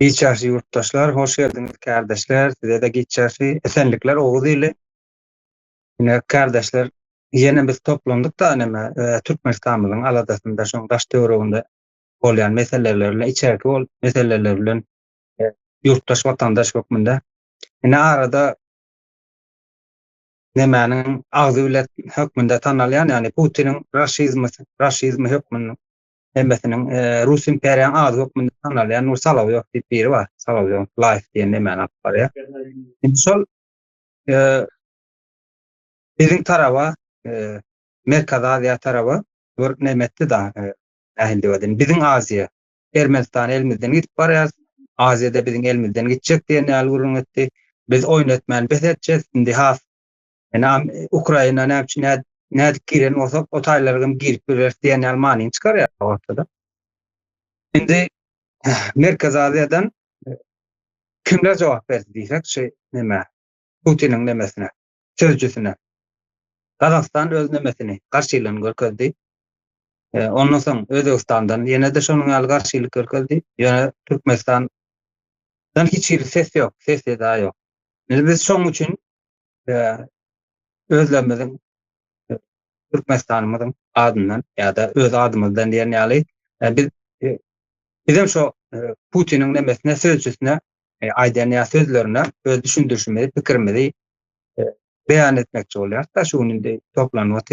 Giç ýaşly ýurtdaşlar hoş geldiňiz kärdeşler sizede giç ýaşly esenlikler oguz ili ine kärdeşler ýene biz toplandykda neme türkmenistanymyzyň aladasynda şoň daş töwereginde bolýan meseleler bilen içerki bol meseleler bilen ýurtdaş watandaş hökmünde ine arada nemäniň agzy bilen hökmünde tanalýan ýagny putiniň raşizmi raşizmi hökmünde Hemmesiniň Rus imperiýanyň ady hökmünde tanalýan bu Solowyýow diýip biri bar. Solowyýow Life diýen nemäni alyp barýar. Indi şol biziň taraba, Merkezi Aziýa taraba bir näme etdi da, nähildi welin, biziň Aziýa, Ermenistan elimizden gidip barýar, Aziýada biziň elimizden gitjek diýen ýaly gürrüň etdi. Biz oýun etmän bes etjek, indi has Ynam Ukraina näme üçin näd nädik giren bolsa o taýlary hem girip bileris diýen ýaly manyny çykarýar ortada. Indi Merkez Aziýadan e, kimler jogap berdi diýsek şu näme Putiniň nemesine, sözcüsine. Gazagystan öz nemesini garşylygyny görkezdi. E, ondan soň Özbegistandan ýene-de şonuň ýaly garşylyk görkezdi. Ýöne Türkmenistan hiç hili ses ýok, ses eda ýok. Biz şoň üçin özlerimiziň Türkmenistanymyzyň adyndan ýa-da öz adymyzdan diýen ýaly biz bizem şo Putiniň nemesine sözçüsine aýdan ýa sözlerine öz düşündirişimizi, pikirimizi beýan etmekçi bolýarys-da şu gün indi toplanmak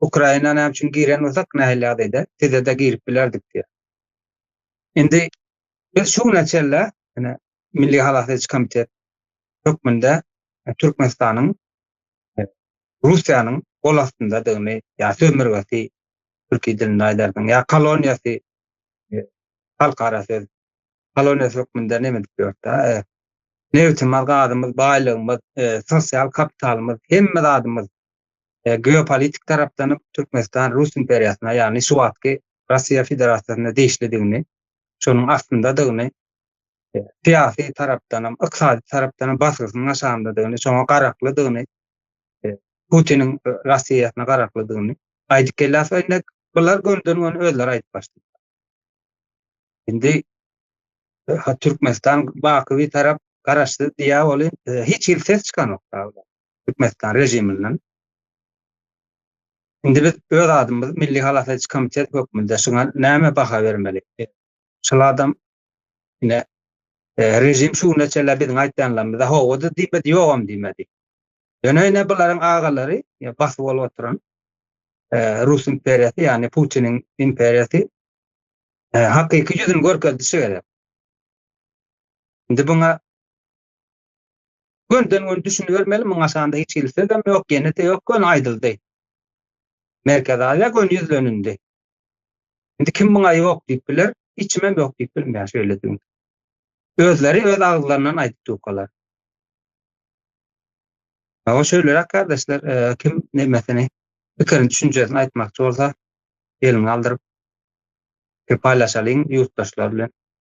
Ukraina näme üçin giren bolsak nähili ýagdaýda sizede girip bilerdik diýýär. Indi biz şu güne çenli ýöne Milli halas ediş komitet hökmünde e, Türkmenistanyň e, Russiýanyň gol astyndadygyny ýa sömürgesi türki dilinde aýdarsyň ýa koloniýasy e, halkara söz koloniýasy hökmünde näme edip ýördi nebitimiz gazymyz baýlygymyz sosial kapitalymyz hemme zadymyz e, geopolitik tarapdan Türkmenistan Rus imperiýasyna, ýagny şu wagtky Russiýa Federasiýasyna degişlidigini, şonuň astyndadygyny, e, syýasy tarapdan hem, ykdysady tarapdan hem basgysynyň aşagyndadygyny, şoňa garaklydygyny, e, Putiniň e, Russiýasyna garaklydygyny aýdyp gelýär. Indi bular gönden-göni özleri aýdyp başlaýar. Indi Türkmenistan baky bir tarap garaşdy diýä ol e, hiç hil ses çykanok. Türkmenistan režiminden. Indi biz öz adymyz Milli halas ediş komitet hökmünde şuňa näme baha bermeli? Şul adam ine rejim şu güne çenli biziň aýtýanlarymyza howada diýmedi, ýogam diýmedi. Ýöne ine bularyň agalary basyp bolup oturan Rus imperiýasy, ýagny Putiniň imperiýasy hakyky ýüzüni görkezişi gerek. Indi buňa Günden gün düşünibermeli muňa şanda hiç hili sözem ýok ýenede ýok göni aýdyldy. Merkezi Aziýa göni ýüzlenindi. Indi kim muňa ýok diýip biler içimem ýok diýip bilmeýär şeýle düwün. Özleri öz agzlaryndan aýdyp durkalar. Hawa şeýleräk gardaşlar kim nemesini pikirini düşünjesini aýtmakçy bolsa elini galdyryp paýlaşalyň ýurtdaşlar bilen.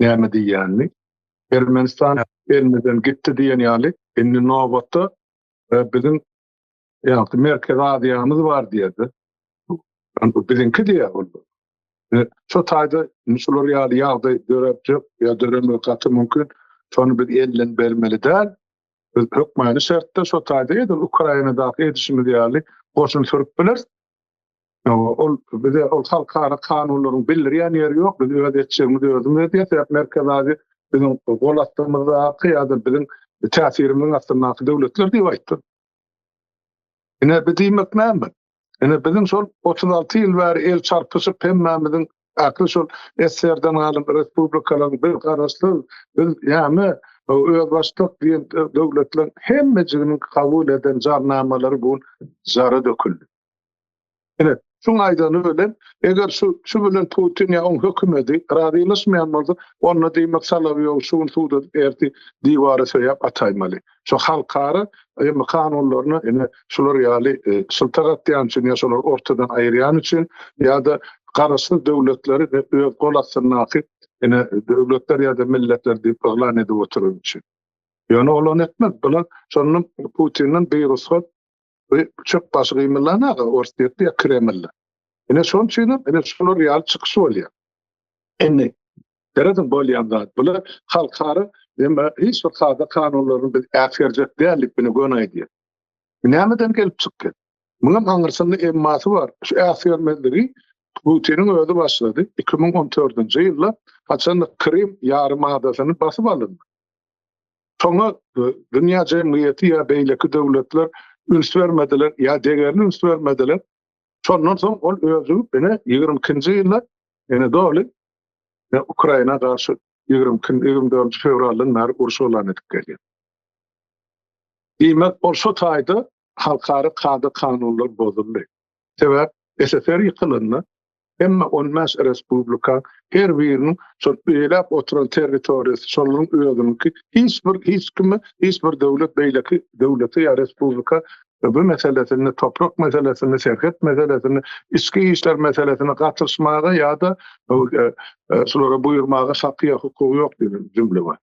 näme diýýänini. Ermenistan elimizden gitdi diýen ýaly, indi nobatda e, biziň ýagty Merkezi Aziýamyz bar diýerdi. Biziňki diýýär ol. E, şu taýda şular ýaly ýagdaý dörepjek ýa döremegi gaty mümkin. Şony biz elden bermeli däl. Biz hökmany şertde şu taýda edil Ukrainadaky edişimiz ýaly goşun sürüp bileris. Ýa-da ol bize ol halkara kanunlaryň bildirýän ýeri ýok, biz öz etjegimizi özümiz edýäs, sebäp Merkezi Aziýa biziň gol astymyzdaky ýa-da biziň täsirimiziň astyndaky döwletler diýip aýtdym. Ine, bu diýmek näme? Ine, biziň şol otuz alty ýyl bäri el çarpyşyp hemmämiziň Akyl şol SSR-den galan respublikalaryň bir garaşsyz biz näme özbaşdak diýen döwletleriň hemmejiginiň kabul eden jarnamalary bu gün jara döküldi. Ine, şuň aýdany bilen, eger şu şu bilen Putin ýa oň hökümedi razylaşmaýan bolsa, onda diýmek Solowýowy şu gün suda ertir diwara söýäp ataýmaly. Şu halkara ylmy kanunlaryna ine şular ýaly e, şyltak atýan üçin ýa şolary ortadan aýyrýan üçin ýa-da garaşsyz döwletleri we öz gol astyndaky ine döwletler ýa-da milletler diýip yglan edip oturan üçin. Ýöne olany etmez. Bular şondan Putinden bir ruhsat Bu çöp başy gymyldan aga Orsýet diýýär Kreml. Ine şonuň üçin hem ine şular ýaly çykyş bolýar. Indi Seredin bolýan zat bular halkara emma hiç bir kada kanunlaryny biz äsgerjek däldik bini göni aýdýar. Nämeden gelip çykdy? Munuň aňyrsynda emmasy bar. Şu äsgermezligi Putiniň özi başlady. 2014-nji ýylda haçanda Krym ýarym adasyny basyp alyndy. Şoňa dünýä jemgyýeti ýa beýleki döwletler üns bermediler, ýa degerli üns bermediler. Şondan soň ol özi ine 22-nji ýylda ene doly e, Ukraina garşy 20-24 fewraldan bäri uruş yglan edip gelýär. Diýmek, ol şu taýda halkara kada-kanunlar bozuldy. Sebäp SSR ýykylanda hemme on bäş respublika her biriniň şol eýläp oturan territoriýasy şolaryň özüniňki hiç bir hiç kime hiç bir döwlet beýleki döwlete ýa respublika bu meselesinde toprak meselesinde serhet meselesinde içki işler meselesine gatyşmaga ýa-da şulara buýurmaga haky ýa hukugy ýok diýen jümle bar.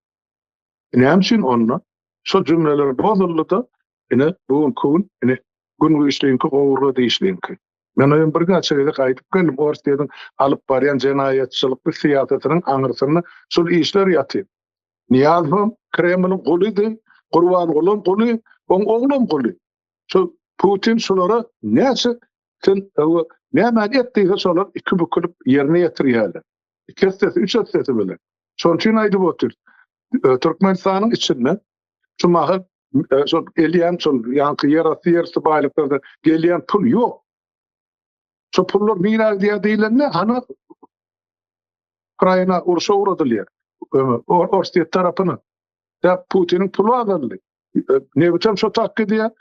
Näme üçin onda? Şol jümleler bozuldy-da, ine, bu günki gün, ine, gün güýçliňki, gowurga dişliňki. Men oýam birnäçe gezek aýdyp geldim, Orsýetiň alyp barýan jenaýatçylykly syýasatynyň aňyrsynda şul işler ýatyr. Nyýazowam Kremliň gulydy, Gurbangulam guly, oň oglam guly. Şu Putin şulara näçe sen öwe nämäni et diýse, şolar iki bükülip ýerine ýetirýärler. iki esse, üç esse bile. Şonuň üçin aýdyp otyr. E, Türkmenistanyň içinde şu mahal e, şol gelýän şol ýanky ýer asty ýer üstü baýlyklarda gelýän pul ýok. Şu pullar nirä gidýär diýlende, hany Ukraina urşa ugradylýar. Orsýet tarapyna. Däp Putiniň pulu azaldy. Nebitüm şo tak gidýär.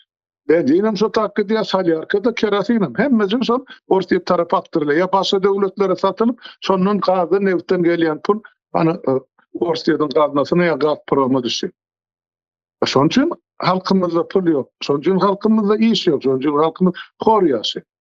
Benzinem şo tak gidýär, salýarka da kerosinem. Hemmesi şol Orsýet tarap akdyrylýar. Ýa başga döwletlere satylyp, şondan gazdan, nebitden gelýän pul ana e, Orsýetiň gaznasyna ýa Gazproma düşýär. E, şonuň üçin halkymyzda pul ýok. Şonuň üçin halkymyzda iş ýok. Şonuň üçin halkymyz hor ýaşaýar.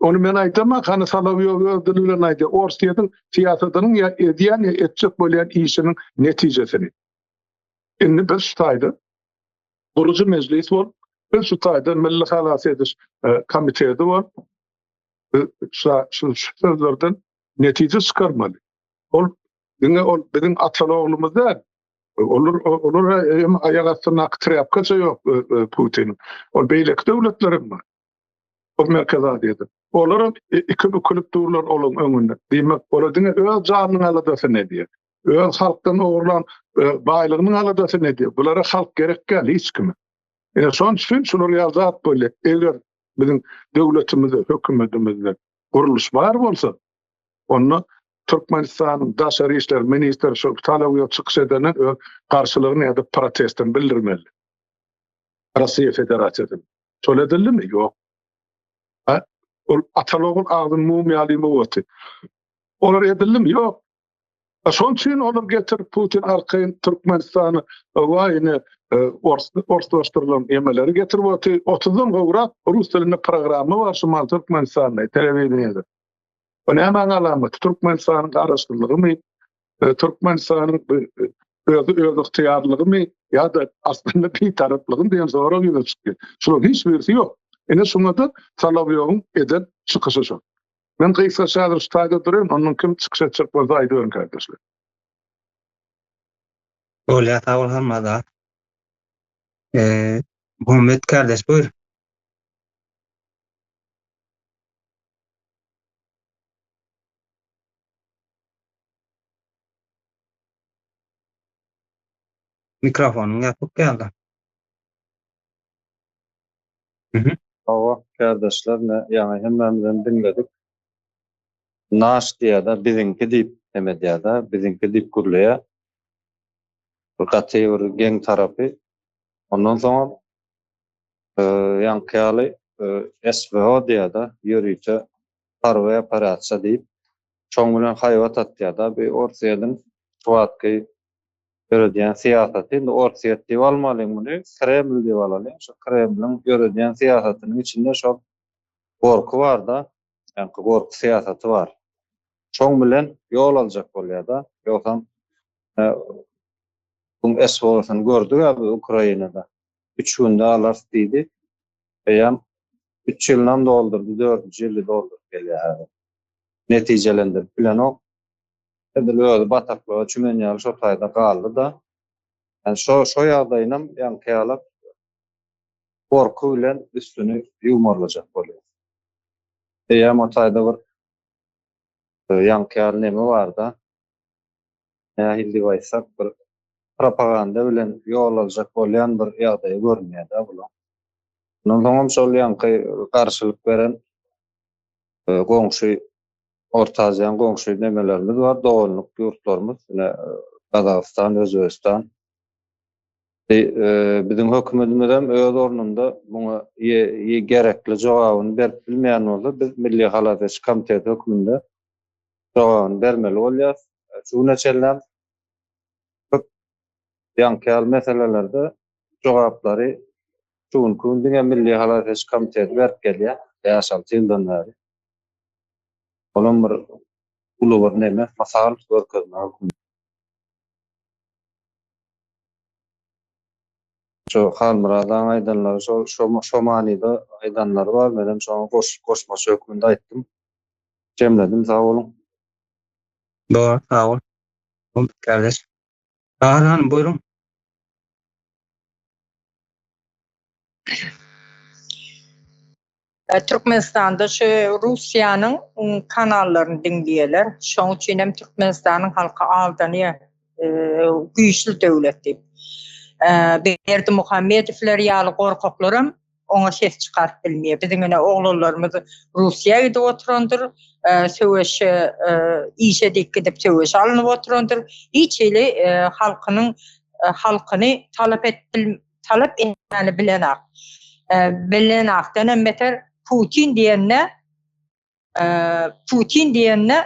Ony men aýdamok, hany Solowýow öz dili bilen aýdýar, Orsýetiň syýasatynyň ýa edýän ýa etjek bolýan işiniň netijesini. Indi biz şu taýda gurujy mejlis bolup, biz şu taýda Milli halas ediş komiteti bolup, şu sözlerden netije çykarmaly. Ol diňe ol biziň atalogumyz däl. Olar olar hem aýak astyndaky trýapkaça ýok Putiniň. Ol beýleki döwletler hem bar. Ol Merkezi Aziýada. Olaram iki bükülip durlar olaň öňünde. Diýmek, olar diňe öz janynyň aladasyny edýär. Öz halkdan ogurlan e, baýlygynyň aladasyny edýär. Bulara halk gerek däl hiç kime. Ine şonuň üçin şular ýaly zat bolýar. Eger biziň döwletimizde, hökümetimizde gurluş bar bolsa, onda Türkmenistanyň daşary işler ministri şu Talawyýa çykyş edenden öz garşylygyny ýa-da protestini bildirmeli. Russiýa Federasiýasyny. Şol edildimi? Ýok. Ha? Ol atalogun agzyn mum ýaly muwaty. Olar edildimi? Ýok. A şoň üçin olar getir Putin arkaýyn Türkmenistany waýne e, orslaşdyrylan emeleri getirip oty 30-dan gowrak rus dilinde programma bar şu mal Türkmenistanda telewideniýede. Bu näme alamaty? Türkmenistanyň garaşsyzlygymy? e, Türkmenistanyň e, özi öz ygtyýarlygymy ýa-da aslynda bitaraplygymy diýen sorag ýüze çykdy. Şunuň hiç birisi ýok. Ine şuňa da Salawýowyň eden çykyşy şu. Men gysga şagyr ştaýda durýan, onuň kim çykyş etjek bolsa aýdyberiň kardeşler. Bolýar, sag bol Hammada. Eee, Muhammet kardeş, buyur. Mikrofonyň ýapyk ýaly. Mhm. Hawa, kärdeşler ne ýaňy hemmämizem diňledik. Naş diýýä-de, biziňki diýip hem edýä-de, biziňki diýip gürleýä. Bu gaty bir geň tarapy. Ondan soňam ýaňky ýaly SVO diýýä-de, ýörite Harby operasiýa diýip, şoň bilen haýbat atýar-da. Bu Orsýetiň şu wagtky ýöredýän syýasaty. Indi Orsýet diýip almalyň muny, Kreml diýip alalyň. Şu Kremliň ýöredýän syýasatynyň içinde şol gorky bar-da, ýaňky gorky syýasaty bar. Şoň bilen ýol aljak bolýar-da. Ýogsam, muň SWO-syny gördük-ä biz Ukrainada. Üç günde alarys diýdi. Eýýäm Üç ýylynam doldurdy, dördünji ýyly dolduryp gelýär häzir. Netijelendirip bilenok. Edil özi bataklyga çümen ýaly şo taýda galdy-da. Ýani şo şo ýagdaýynam ýaňky ýalak gorky bilen üstüni ýuwmarlajak bolýar. Eýýäm o taýda bir Ýaňky ýaly neme barda? Nähildi aýtsak, bir propaganda bilen ýol aljak bolýan bir ýagdaýy görünýär-dä bulaň. Ondan soňam şol ýaňky garşylyk beren goňşy, Orta Aziýanyň goňşy nemelerimiz bar, doganlyk ýurtlarymyz, ine, Gazagystan, Özbegistan. Biziň hökümetimizem öz ornunda muňa gerekli jogabyny berip bilmeýän bolsa, biz Milli halas ediş komiteti hökmünde jogabyny bermeli bolýarys. Şu güne çenlem köp ýaňky ýaly meselelerde jogaplary şu günki gün diňe Milli halas ediş komiteti berip gelýär, bäş-alty ýyldan bäri. Olam bir uly bir neme, mysal, görkezme hökmünde. Şu Halmyrat agaň aýdanlary şol şo manyda aýdanlary bar menem şoňa goşmaça hökmünde aýtdym jemledim sag boluň. Dogry sag bol Oguz kardeş. Bahar hanym buýruň. Türkmenistanda şu Russiýanyň kanallaryny diňleýärler. Şoň üçin hem Türkmenistanyň halky aldanýar, güýçli döwlet diýip. Berdimuhamedowlar ýaly gorkaklaram oňa ses çykaryp bilmeýär. Biziň ine oglanlarymyz Russiýa gidip oturandyr, söweşe işe diýip gidip söweşe alnyp oturandyr. Hiç hili halkynyň halkyny talap edip talap etmäni bilenok. Bilenokdan hem beter Putin diýende Putin diýende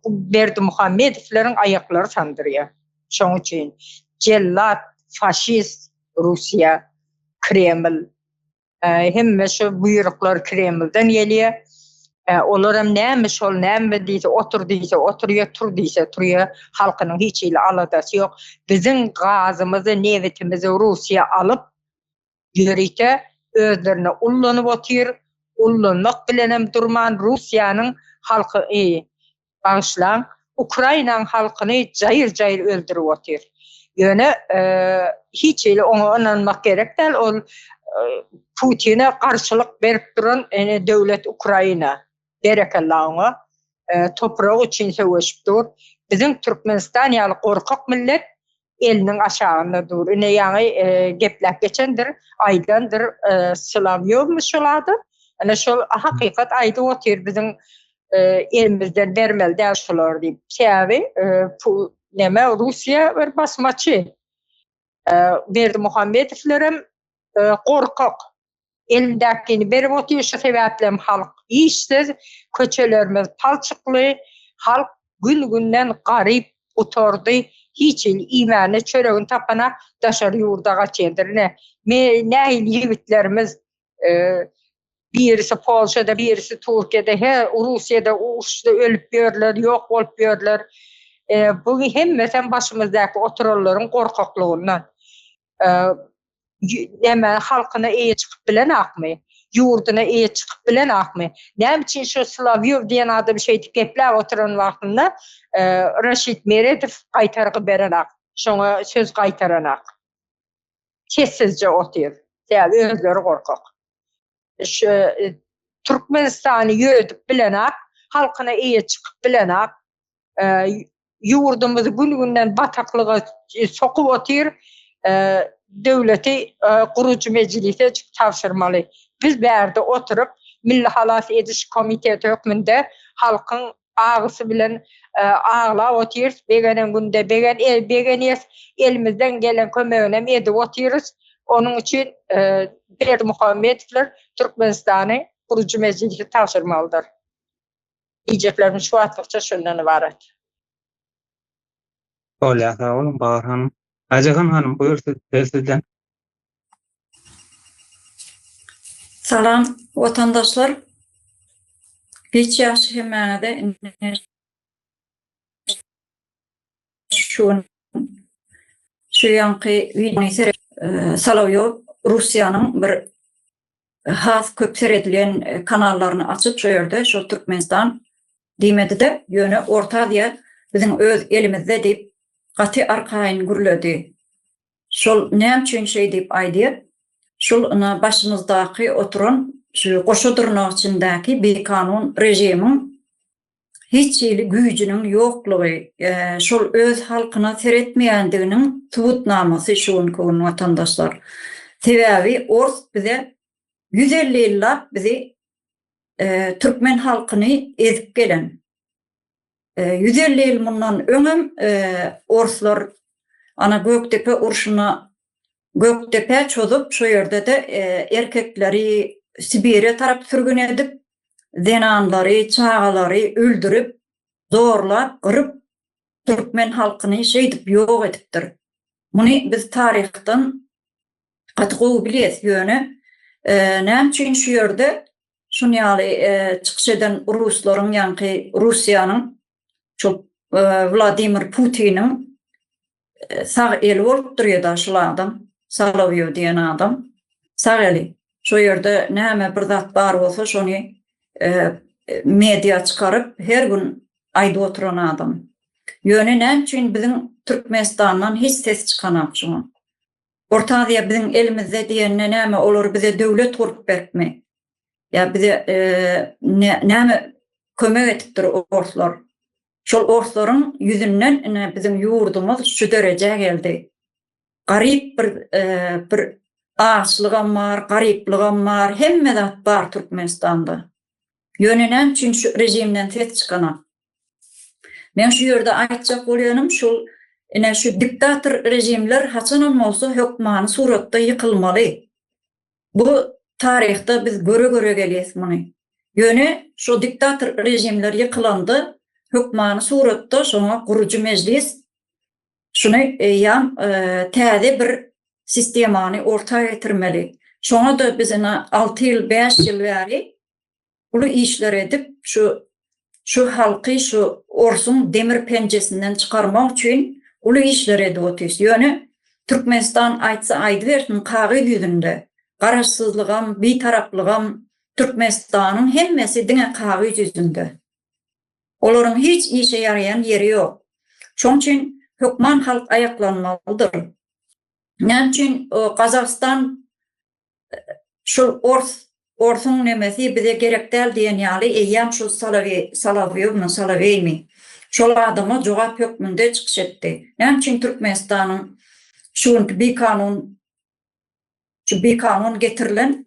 Berdimuhamedowlaryň aýaklary sandyrýar. Şoň üçin jellat, faşist Russiýa, Kreml Hemme şu buýruklar Kremlden gelýär. Olar hem näme şol, näme diýse, otur diýse, oturýar, tur diýse, turýar. Halkynyň hiç hili aladasy ýok. Biziň gazymyzy, nebitimizi Russiýa alyp, ýörite özlerine ullanyp otyr. Ullanmak bilen hem durman, Russiýanyň halky, bagyşlaň Ukrainaň halkyny jaýyr jaýyr öldürip otyr. Ýöne hiç hili oňa ynanmak gerek däl ol Putine garşylyk berip duran döwlet Ukraina. Berekella oňa. Toprak üçin söweşip dur. Biziň Türkmenistan ýaly gorkak millet eliniň aşagynda dur. Ine ýaňy e, gepläp geçendir, aýdandyr e, Sulawyýewmi şol ady. Ana şol hakykat aýdyp otyr biziň e, elimizden bermeli däl şolar diýip. Sebäbi e, pul näme Russiýa bir basmaçy. E, Berdi Muhammedowler hem e, gorkak. Elindäkini berip otyr, şu sebäplem halk işsiz, köçelerimiz palçykly, halk gün-günden garyp gutardy, hiç il iýmäne çöregini tapana daşary ýurda gaçýandyr. Ine, nähili ýigitlerimiz, birisi Polşada, birisi Türkiýede, he, Russiýada uruşda ölüp ýörler, ýok bolup ýörler. Buň hemmesem başymyzdaky oturanlaryň gorkaklygyndan. näme halkyna eýe çykyp bilen akmy? Ýurduna eýe çykyp bilen akmy? Näme üçin şu Slawýow diýen adam şeýdip gepläp oturan wagtynda Raşid Meredow gaýtargy berenak, şoňa söz gaýtaranak. Sessizje otyr. Sebäbi özleri gorkak. Şu Türkmenistany ýödüp bilenak, halkyna eýe çykyp bilenak, ýurdumyzy gün-günden bataklyga sokup otyr. Döwleti gurujy mejlise tabşyrmaly. Biz bärde oturyp, Milli halas ediş komiteti hökmünde halkyň agysy bilen aglap otyrys, begenen günde begenýäs, elimizden gelen kömeginem edip otyrys. Onuň üçin Berdimuhamedowlar Türkmenistany gurujy mejlise tabşyrmalydyr. Iýjeklerimiz şu wagtlykça şundan ybarat. Bolýa sag boluň Bahar hanym. Aýjahan hanym buýr siz söz sizden. Salam watandaşlar. Hiç ýagşy hemmäňize ine şu gün şu ýanky wideony seret Solowýow Russiýanyň bir has köp seredilen kanallaryny açyp şo ýerde şo Türkmenistan diýmedide ýöne Orta Aziýa biziň öz elimizde diýip gaty arkaýyn gürledi. Şol näme üçin şeý diýip aýdyr? Şol ina başymyzdaky oturan şu goşa dyrnak içindäki bikanun režimiň hiç hili güýjüniň ýoklugy, şol öz halkyna seretmeýändiginiň subutnamasy şu günki gün watandaşlar. Sebäbi ors bize ýüz elli ýyllap bizi türkmen halkyny ezip gelen. Ýüz elli ýyl mundan öňem orslar ana Gökdepe urşuna Gökdepä çozup, şo ýerde-de erkekleri Sibire tarap sürgün edip, zenanlary, çagalary öldürip, zorlap, gyryp, türkmen halkyny şeýdip ýok edipdir. Muny biz taryhdan gaty gowy bilýäs. Ýöne näme üçin şu ýerde şun ýaly çykyş eden ruslaryň, ýaňky Russiýanyň, şol Wladimir Putiniň sag eli bolup durýada şul adam Salowýow diýen adam sag eli şo ýerde näme bir zat bar bolsa şony media çykaryp her gün aýdyp oturan adam ýöne näme üçin biziň Türkmenistandan hiç ses çykanak şuň Orta Aziýa biziň elimizde diýende näme olar bize döwlet gurup beripmi ýa bize näme kömek edipdir orslar Şol orslaryň ýüzünden ine biziň ýurdumyz şu derejä geldi. Garyp bir bir açlygam bar, garyplygam bar, hemme zat bar Türkmenistanda. Ýöne näme üçin şu režimden ses çykanak? Men şu ýerde aýtjak bolýanym şul ine şu diktator režimler haçanam bolsa hökmany suratda ýykylmaly. Bu taryhda biz göre-göre gelýäs muny. Ýöne şo diktator režimler ýykylanda hökmany suratda şoňa gurujy mejlis şuny eýýäm täze bir sistemany orta getirmeli. Şoňa-da biz ine alty ýyl, bäş ýyl bäri uly işler edip, şu şu halky şu orsuň demir penjesinden çykarmak üçin uly işler edip otyrys. Ýöne Türkmenistan aýtsa aýdybersin kagyz ýüzünde Garaşsyzlygam, Bitaraplygam Türkmenistanyň hemmesi diňe kagyz ýüzünde. Olaryň hiç işe ýaraýan ýeri ýok. Şoň üçin hökman halk aýaklanmalydyr. Näme üçin Gazagystan şol ors, orsuň nemesi bize gerek däl diýen ýaly eýýäm şol Soloweý, Soloweýewmi, Soloweými, şol adama jogap hökmünde çykyş etdi. Näme üçin Türkmenistanyň şu günki bikanun, şu bikanun getirilen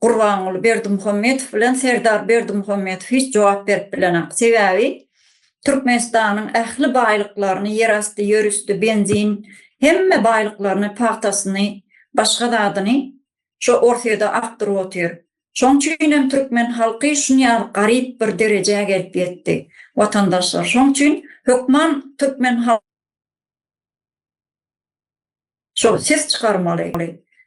Gurbanguly Berdimuhamedow bilen Serdar Berdimuhamedow hiç jogap berip bilenok. Sebäbi Türkmenistanyň ähli baýlyklaryny, ýerasty, ýerüsti, benzin, hemme baýlyklaryny, pagtasyny, başga zadyny şo Orsýede akdyryp otyr. Şoň üçin hem türkmen halky şunýaly garyp bir derejä gelip ýetdi, watandaşlar. Şoň üçin hökman türkmen. Şol ses çykarmaly.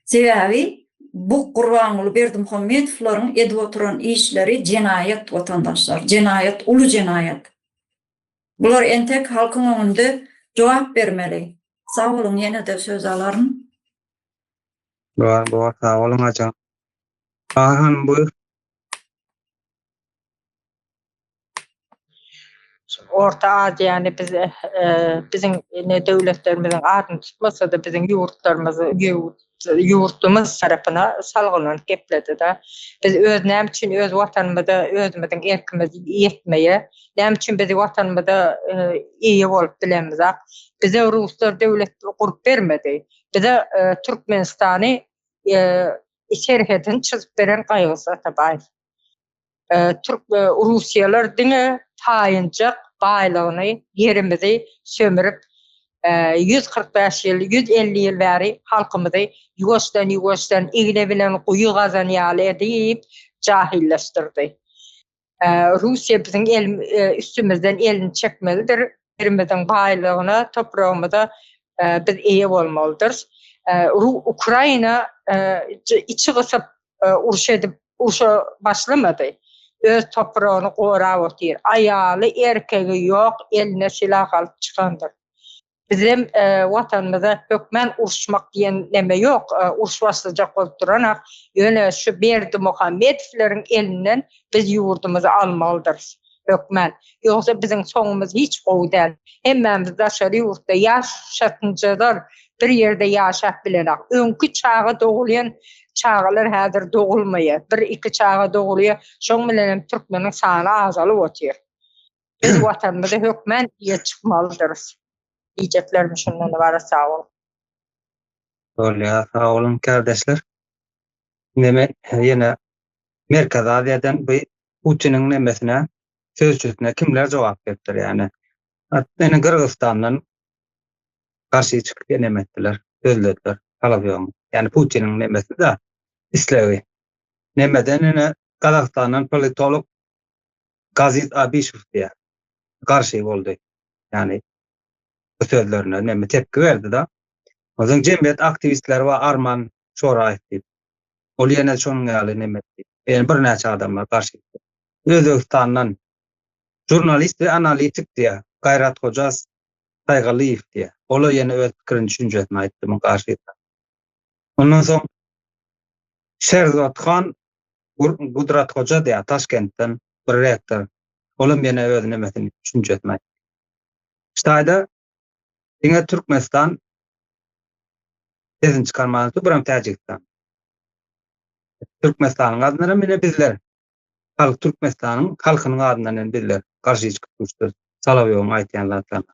Sebäbi bu Gurbanguly Berdimuhamedowlaryň edip oturan işleri jenaýat watandaşlar, jenaýat, uly jenaýat. Bular entek halkyň öňünde jogap bermeli. Sag boluň ýene-de söz alaryn. Bar bar sag boluň aja. Bahar hanym buýr. Orta Aziýany biz biziň indi döwletlerimiziň adyny tutmasa-da biziň ýurtlarymyzy ýurtdumyz tarapyna salgylanyp gepledi-de. Biz öz näme üçin öz watanymyza özümiziň erkimiz ýetmeýe, näme üçin biz watanymyza eýe bolup bilemizok. Bize ruslar döwlet gurup bermedi. Bize Türkmenistany serhedini çyzyp beren Gaýygüz Atabaýew. Türk e, Russiýalar diňe taýynjak baýlygyny, ýerimizi sömürip, 145 e, ýyl, 150 ýyl bäri halkymyzy ýuwaşdan ýuwaşdan igne bilen guýy gazan ýaly edip jahilleşdirdi. E, Russiýa biziň el, üstümizden elini çekmelidir. Ýerimiziň baýlygyna, topragymyza biz eýe bolmalydyr. Ukraina içi gysyp e, uruş edip urşa başlamady. Öz topragyny gorap otyr. Aýaly, erkegi ýok, eline silah alyp çykandyr. Bizem e, watanymyza hökmän uruşmak diýen neme ýok. E, uruş başlajak bolup duranak, ýöne şu Berdi Muhammedowleriň elinden biz ýurdumyzy almalydyrys. hökmän. Ýogsa biziň soňumyz hiç gowy däl. Hemmämiz daşary ýurtda ýaşatynjadar bir ýerde ýaşap bilenok. Öňki çaga dogulýan çagalar häzir dogulmaýar. Bir iki çaga dogulýar. Şoň bilenem türkmeniň sany azalyp otyr. Biz watanymyzy hökmän diýe çykmalydyrys. Diýjeklerim şundan ybarat sag boluň. Bolýa sag boluň kärdeşler. Indi men ýene Merkezi Aziýadan bu Putiniň nemesine, sözçüsine kimler jogap beripdir ýany? Ene Gyrgyzystandan garşy çykyp ýa neme etdiler, sözlediler, talap ýogmy? Ýani Putiniň nemesi-da, islegi. Nemeden ene Gazagystandan politolog Gazit Abişew diýýär, garşy boldy. Ýani bu sözlerine neme tepki berdi-da. Onsoň jemgyýet aktiwistleri bar, Arman şora aýt diýip. Ol ýene şonuň ýaly neme etdi. Ýene birnäçe adamlar garşy çykdy. Özbegistandan žurnalist we analitik diýýär. Gaýrat Hoja Saýgalyýew diýýär. Ol-a ýene öz pikirini, düşünjesini aýtdy muň garşysyna. Ondan soň Şerzodhan Gudrat Hoja diýýär, Taşkentden bir rektor. Olam ýene öz nemesini, düşünjesini aýtdy. Ştaýda Diňe Türkmenistan sesini çykarman dur, buram Täjigistan. Türkmenistanyň adyndan hem ine bizler. Halk Türkmenistanyň halkynyň adyndan hem bizler garşy çykyp durşy. Salawyoň aýtýan zatlaryna.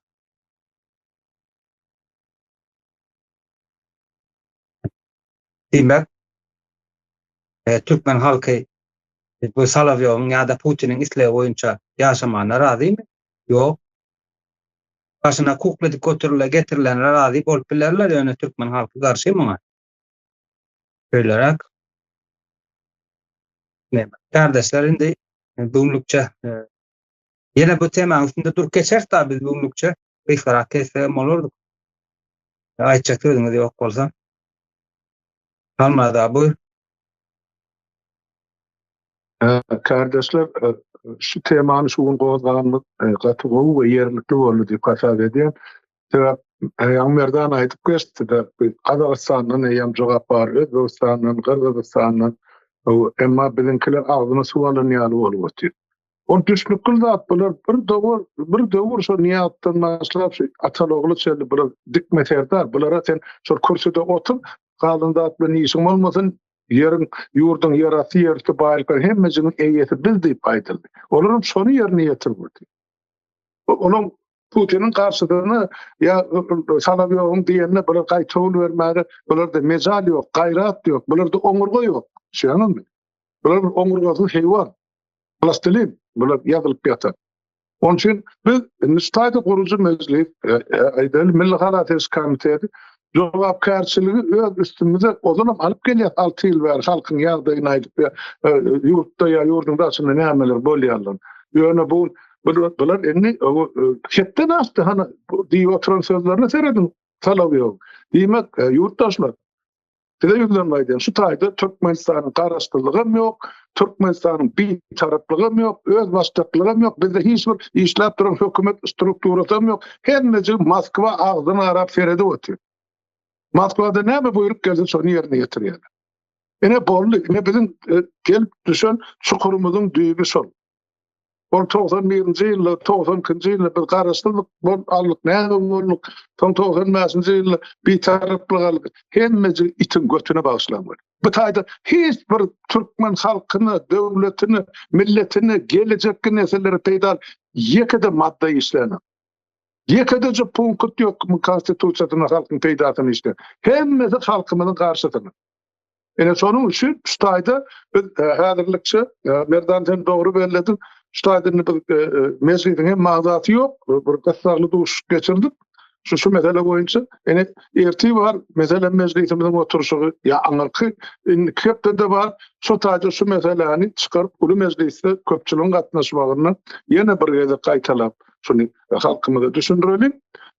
Diýmek, türkmen halky bu Solowýowyň ýa-da Putiniň islegi boýunça ýaşamana razymy? Ýok. Başyna kukla dik oturyla getirilene razy bolup bilerler, ýöne türkmen halky garşy muňa. Şeýleräk. Kärdeşler indi bu günlükçe Ýene bu temaň üstünde durup geçeris da biz bu günlükçe gysgarak kesseem bolardyk. Aýtjak sözüňiz ýok bolsa. Almaz abi. Kardeşler, şu temany şu gün gozganymyz gaty gowy we ýerlikli boldy diýip hasap edýän. Sebäp Aýan Merdan aýdyp geçdi-de, Gazagystandan eýýäm jogap bar, Özbegistandan, Gyrgyzystandan, emma biziňkiler agzyna suw alan ýaly bolup otyr. Ol düşnükli zat, bular bir döwür, bir döwür şol Nyýazdan başlap şu Atalogly çenli bular dikme serdar, bulara sen şol kürsüde otur, galan zat bilen işiň bolmasyn, ýeriň, ýurduň ýerasty, ýerüsti baýlyklaryň hemmejigiň eýesi biz diýip aýdyldy. Olaram şony ýerine ýetirmedi. Olaň Putiniň garşydygyny ýa Solowýowyň diýenine bular gaýtawul bermäge bularda mejal ýok, gaýrat ýok, bularda oňurga ýok. Düşüniňizmi? Bular bir oňurgasyz heýwan. Plastilin bular ýazylyp ýatar. Onun üçin biz Nustayda gurucu meclis, e, e, Aydel Milli Halatyrys komiteti jogapkärçiligi öz üstümize ozalam alyp gelýäs, alty ýyl bäri halkyň ýagdaýyny aýdyp, ýa ýurtda, ýa ýurduň daşynda nämeler bolýandygyny. Ýöne bu bular indi hetden aşdy, hany diýip oturan sözlerine serediň, talaby ýok. Diýmek, ýurtdaşlar, size ýüzlenme aýdýan, şu taýda Türkmenistanyň garaşsyzlygam ýok, Türkmenistanyň Bitaraplygam ýok, özbaşdaklygam ýok, bizde hiç bir işläp duran hökümet strukturasam ýok. Hemmejik Moskwa agzyn arap seredip otyr. Moskwadan näme buýruk gelse şony ýerine ýetirýärler. Ine boldy, ine biziň e, gelip düşen çukurymyzyň düýbi şol. Ol togsan birinji ýylda, togsan ikinji ýylda biz garaşsyzlyk bolup aldyk, näme bolduk, soň togsan bäşinji ýylda bitaraplyk aldyk. Hemmejigi itiň götüne bagyşlan bolýar. Bu taýda hiç bir türkmen halkyna, döwletine, milletine, gelejekki nesillere peýdaly ýeke-de madda işlänok. Ýekedeje punkut ýok Konstitusiýasynda halkyň peýdasyna işleýän. Hemmesi halkymyzyň garşysyna. Ene şonuň üçin şu taýda biz e, häzirlikçe e, Merdan sen dogry bellediň. Şu taýda indi biz e, mejlisiň hem magdaty ýok. Bir gyssagly duşup geçirdik. Şu şu mesele boýunça ene erti bar mesele mejlisimiziň oturşy ýa aňyrky indi hepdede bar. Şu taýda şu meseleni çykaryp uly mejlisde köpçüligiň gatnaşmagyny ýene bir gezek gaýtalap şuny halkymyza düşündirelim.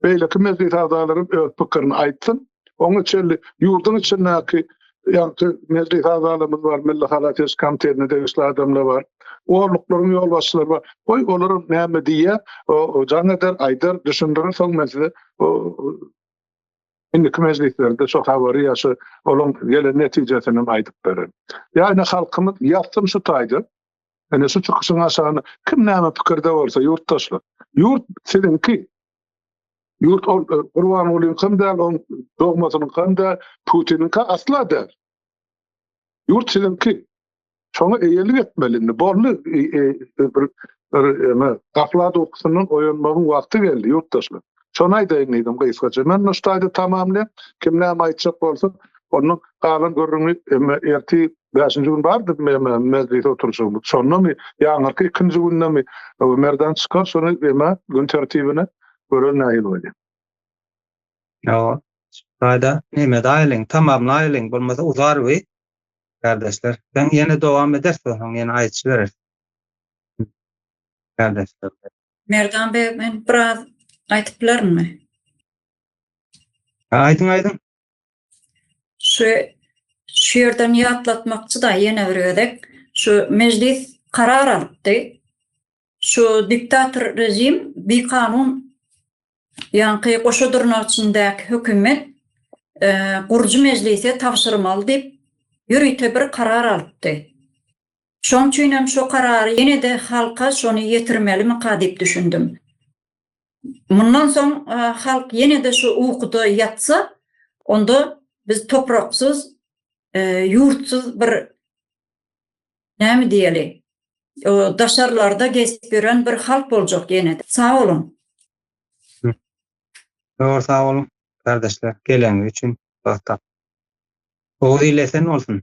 Beýleki mejlis agzalary öz pikirini aýtsyn. Oňa çenli ýurduň içindäki ýagty milli hazalarymyz bar, milli halateş komitetine degişli adamlar bar. Orluklaryň ýolbaşçylary bar. Goý, olar näme diýýär? O jaň eder, aýdar, düşündirir, soň men size o indiki mejlislerde şu habary ýa şu olaň gelen netijesini hem aýdyp bererin. Ýa-da halkymyz ýatsyn şu taýda. Ene şu çykyşyň aşagyna kim näme pikirde bolsa ýurtdaşlar. Ýurt siziňki. Ýurt ol e, Gurbangulyň kan däl, oň dogmasynyň kan däl, Putiniň ka asla däl. Ýurt siziňki. Şoňa eýelik etmeli indi. Boldy e, e, bir bir eme gaflat ukusyndan oýanmagyň wagty geldi ýurtdaşlar. Şony aýdaýyn diýdim gysgaça. Men bu ştaýda tamamlaýan, kim näme aýtjak bolsa, onuň galan gürrüňi emme erti Bäşinji gün bardy mejlis oturyşymyz. Şondamy, ýaňyrky ikinji gündemi Merdan çykar şony emä gün tertibine görelim nähili bolýar. Ýa-a. Gaýda neme daýylyň, tamamlaýlyň, bolmasa uzar we Kardeşler, sen ýene dowam edersi we soň ýene aýçy bereris. Kardeşler. Merdan beg men biraz aýtyp bilerin mi? Aýdyň aýdyň. Şu şu ýerden ýatlatmakçy da ýene bir gezek şu mejlis karar alypdy. Şu diktator rejim bikanun ýaňky goşa durnak içindäki hökümet e, gurujy mejlise tabşyrmaly diýip ýörite bir karar alypdy. Şoň üçin hem şu karary ýene-de halka şony ýetirmelimi ka diýip düşündim. Mundan soň halk ýene-de şu ukuda ýatsa, onda biz topraksyz, ýurtsyz bir näme diýeli, daşarlarda gezip ýören bir halk boljak ýene-de. Sag boluň! Zor sag boluň, gardaşlar, geleniňiz üçin, wagt tapyp. Oguz il esen bolsun!